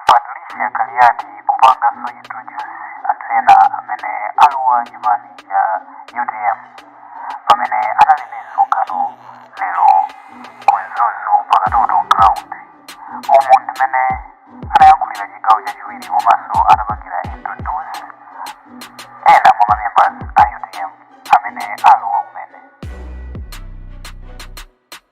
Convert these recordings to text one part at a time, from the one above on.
Patricia Kaliati kupanganso introduce anthu ena amene alowa chipani cha utm pamene anali ndi msonkhano lero ku Mzuzu pa Katoto ground umu ndimene anayankhulira chigawo chachiwiri komanso anapangira introduce ena mwa ma members a utm amene alowa kumene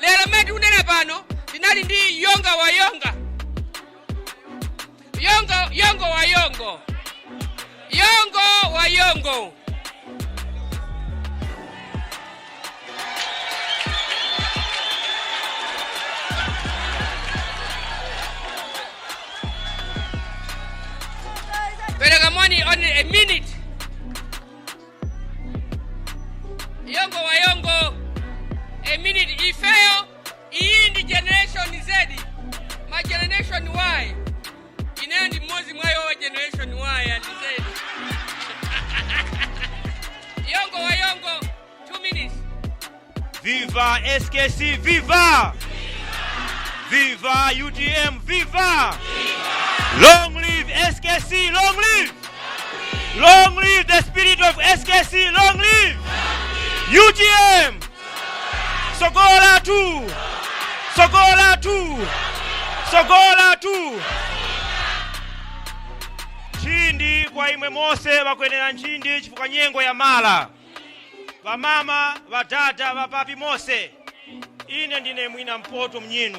lero mmene tikunena pano tinali ndi yonga wa yonga yongo yongo wa yongo yongo wa yongo Pereka moni only a minute. Yongo wa yongo. A minute ifeyo. Iyi ndi generation Z. Ma generation Y. Ineyo ndi mmodzi mwa yowa generation waya ndiseni. Yongo wa yongo, two minutes. Viva SKC, viva! Viva UTM, viva! Long live SKC, long live! Long live the spirit of SKC, long live! UTM! Sogolo lathu! Sogolo lathu! Sogolo lathu! Nchindi kwa imwe mose bakwenera nchindi chifukwa nyengo yamala. Bamama, badada, bapapi mose. Ine ndine mwina Mpoto mnyinu.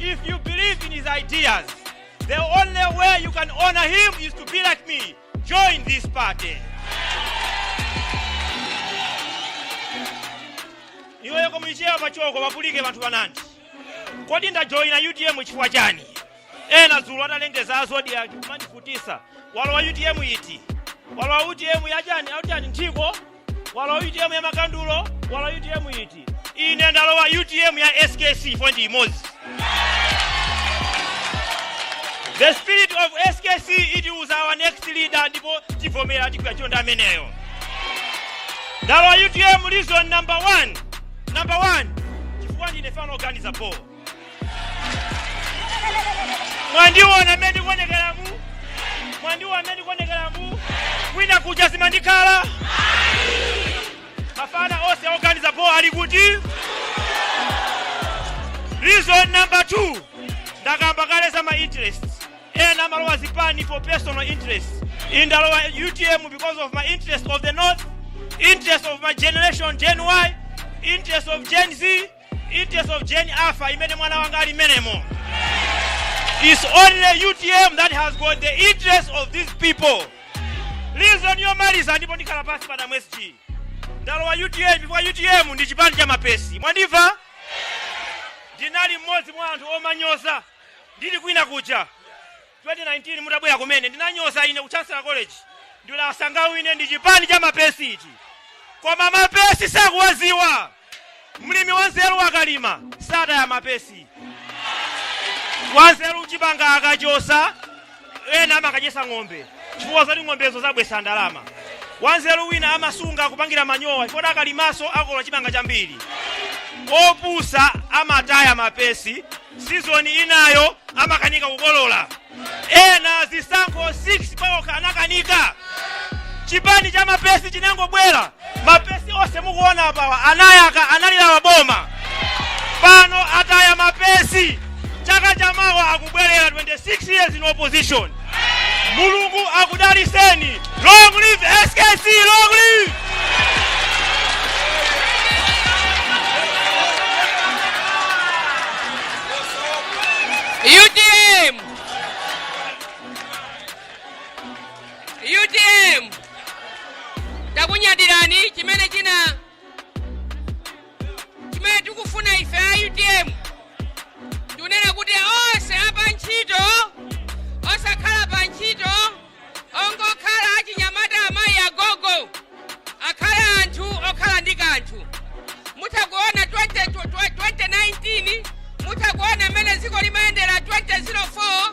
If you believe in his ideas, the only way you can honor him is to be like me. Join this party. iweyo komuichewa pachoko papulike vanthu vanandi kodi ndajoyina utm chifukwa chani ena dzulo atalengeza azodi ake kumandifutisa walowa utm iti walowa utm yachani achani nthiko walowa utm ya makandulo walowa utm iti ine ndalowa utm ya skc fo ndi imodzi the spirit of skc it was our next leader ndipo tivomera tikuya chonde ameneyo ndalowa utm reason number one number one chifukwa ndine mfana oganiza bo mwandiona amene ndikuonekera mu mwandiona amene ndikuonekera mu kwina kuja zimandikhala mafana onse oganiza bo ali kuti reason number two ndakamba kale za ma interest ena amalowa zipani for personal interest ine ndalowa utm because of my interest of the north interest of my generation gen y interest of gen z Interest of Gen Alpha imene mwana wanga ali m'menemo. It's only UTM that has got the interest of these people. Reason yomaliza ndipo ndikhala pansi a Bambo SG. Ndalowa UTM chifukwa UTM ndi chipani cha mapesi. Mwandimva? Ndinali mmodzi mwa anthu omanyoza. Ndili kwina kuja. 2019 itabwera kumene ndinanyoza ine ku chancellor college ndikuti asangawine ndi chipani cha mapesi ichi koma mapesi simukuwaziwa mlimi wanzeru akalima sataya mapesi wanzeru chimanga akachosa ena amakadyesa ng'ombe chifukwa zoti ng'ombezo zabwesa ndalama wanzeru wina amasunga kupangira manyowa chifukwa akalimaso akolola chimanga chambiri opusa amataya mapesi season inayo amakanika kukolola ena zisankho 6 paokha anakanika chipani cha mapesi chinangobwera mapesi onse mukuona apawa anayaka analilowa boma pano ataya mapesi chaka chamawa akubwerera 26 years in opposition Mulungu akudaliseni. Long live SKC, long live! UTM! UTM! Takunyadirani chimene china chimene tikufuna ife a utm ndikunena kuti onse apa ntchito osakhala pa ntchito ongokhala achinyamata amayi agogo akhale anthu okhala ndi kanthu mutakuona 2019 mutakuona mmene dziko limayendera 2004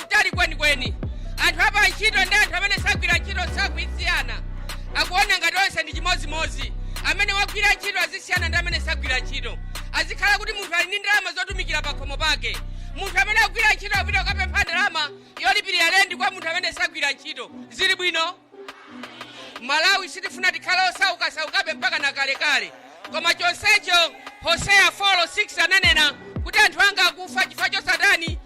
kutali kwenikweni anthu apa ntchito ndi anthu amene sagwira ntchito sakusiyana akuoneka ngati onse ndi chimodzimodzi amene wagwira ntchito azisiyana ndi amene sagwira ntchito azikhala kuti munthu ali ndi ndalama zotumikira pakhomo pake munthu amene agwira ntchito apita kukapempha ndalama yolipirira lendi kwa munthu amene sagwira ntchito zili bwino malawi sitifuna tikhale osaukasaukabe mpaka na kalekale koma chonsecho hoseya 4:6 ananena kuti anthu anga akufa chifukwa chosatani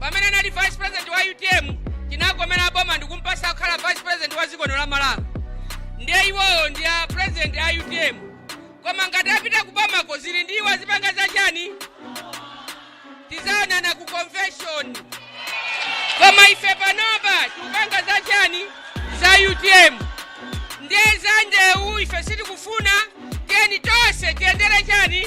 pamene anali vice president wa utm tinagomera boma ndikumpasa kukhala vice president wa dziko lino la malawi ndiye iwowo ndi a president a utm koma ngati apita kubomako zili ndi iwo azipanga za chani tizaonana ku convention koma ife panopa tikupanga za chani za utm ndiye za ndewu ife sitikufuna tiyeni tonse tiyendere chani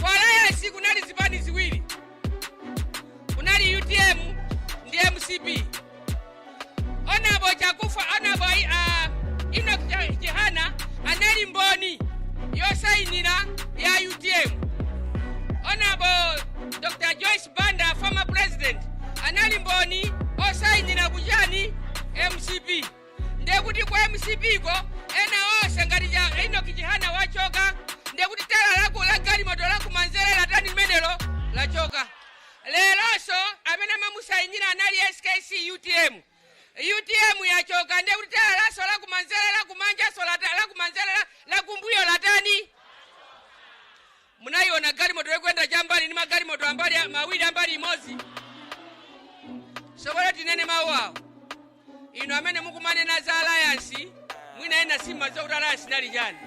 Ku Alliance kunali zipani ziwiri, kunali utm ndi mcp. Onabo Chakufa, onabo uh, Enoch Chihana anali mboni yosainira ya utm. Onabo Dr. Joyce Banda, former president, anali mboni osainira kuchani mcp. ndiye kuti ku mcp ko ena onse ngati enoki chihana wachoka ndiye kuti tayala la galimoto lakumanzere latani limenelo lachoka leronso amene amamusayinira anali skc utm utm yachoka ndiye kuti tayala lakenso lakumanzere lakumanjaso lata- lakumanzere la- lakumbuyo latani Munaiona galimoto ikuyenda chambali ndi magalimoto ambali mawiri ambali imodzi? Sopano tinene mawu awo. Inu amene mukumanena za alliance, mwina ena simadziwa kuti alliance inali chani.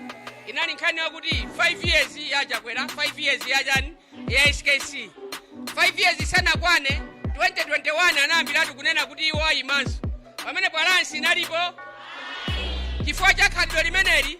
Inali nkhani yakuti 5 years ya Chakwera, 5 years ya ujeni ya SKC. 5 years isanakwane 2021 anayambiratu kunena kuti iwo ayimanso. Pamenepa alliance inalipo chifukwa cha khalidwe limeneli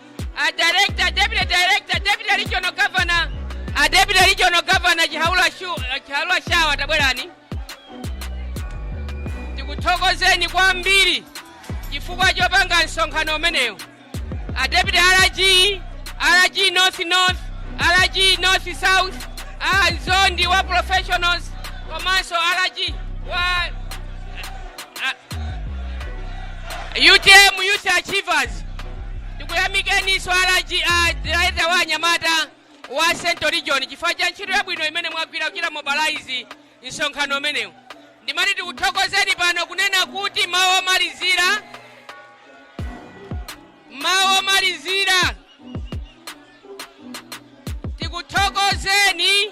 a director deputy director deputy regional governor a deputy regional governor chihaula shu chihaula shawa tabwerani tikuthokozeni kwambiri chifukwa chopanga msonkhano umenewo a deputy rg rg north north rg north south a mzondi wa professionals komanso rg wa utm youth achievers tikuyamikeni swalaji director wa anyamata wa central region chifukwa cha ntchito yabwino imene mwagwira kuchita mobilize msonkhano umenewu ndimati tikuthokozeni pano kunena kuti mawu omalizira mawu omalizira tikuthokozeni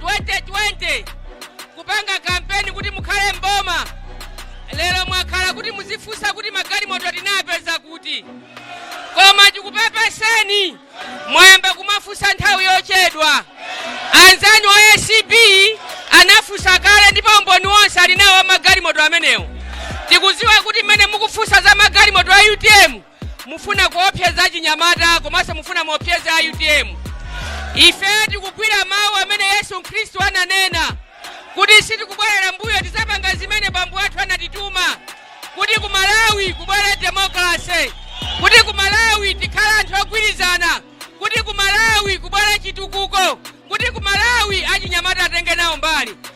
2020 kupanga kampeni kuti mukhale mboma lero mwakhala kuti muzifunsa kuti magalimoto tinapeza kuti koma tikupepeseni mwayamba kumafunsa nthawi yochedwa anzanu a acb anafunsa kale ndipo umboni wonse ali nawo magalimoto amenewo tikuziwa kuti mmene mukufunsa za magalimoto a utm mufuna kuopseza achinyamata komanso mufuna muopseze a utm ife tikugwira mawu amene yesu khristu ananena kuti sitikubwerera mbuyo tizapanga zimene bambo athu anatituma kuti ku malawi kubwere demokrase kuti ku malawi tikhale anthu ogwirizana kuti ku malawi kubwere chitukuko kuti ku malawi achinyamata atenge nawo mbali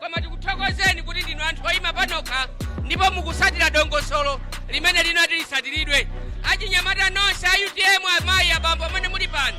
koma tikuthokozeni kuti ndinu anthu oyima panokha ndipo mukusatira dongosolo limene linati lisatiridwe achinyamata nonse a utm amayi abambo amene muli pano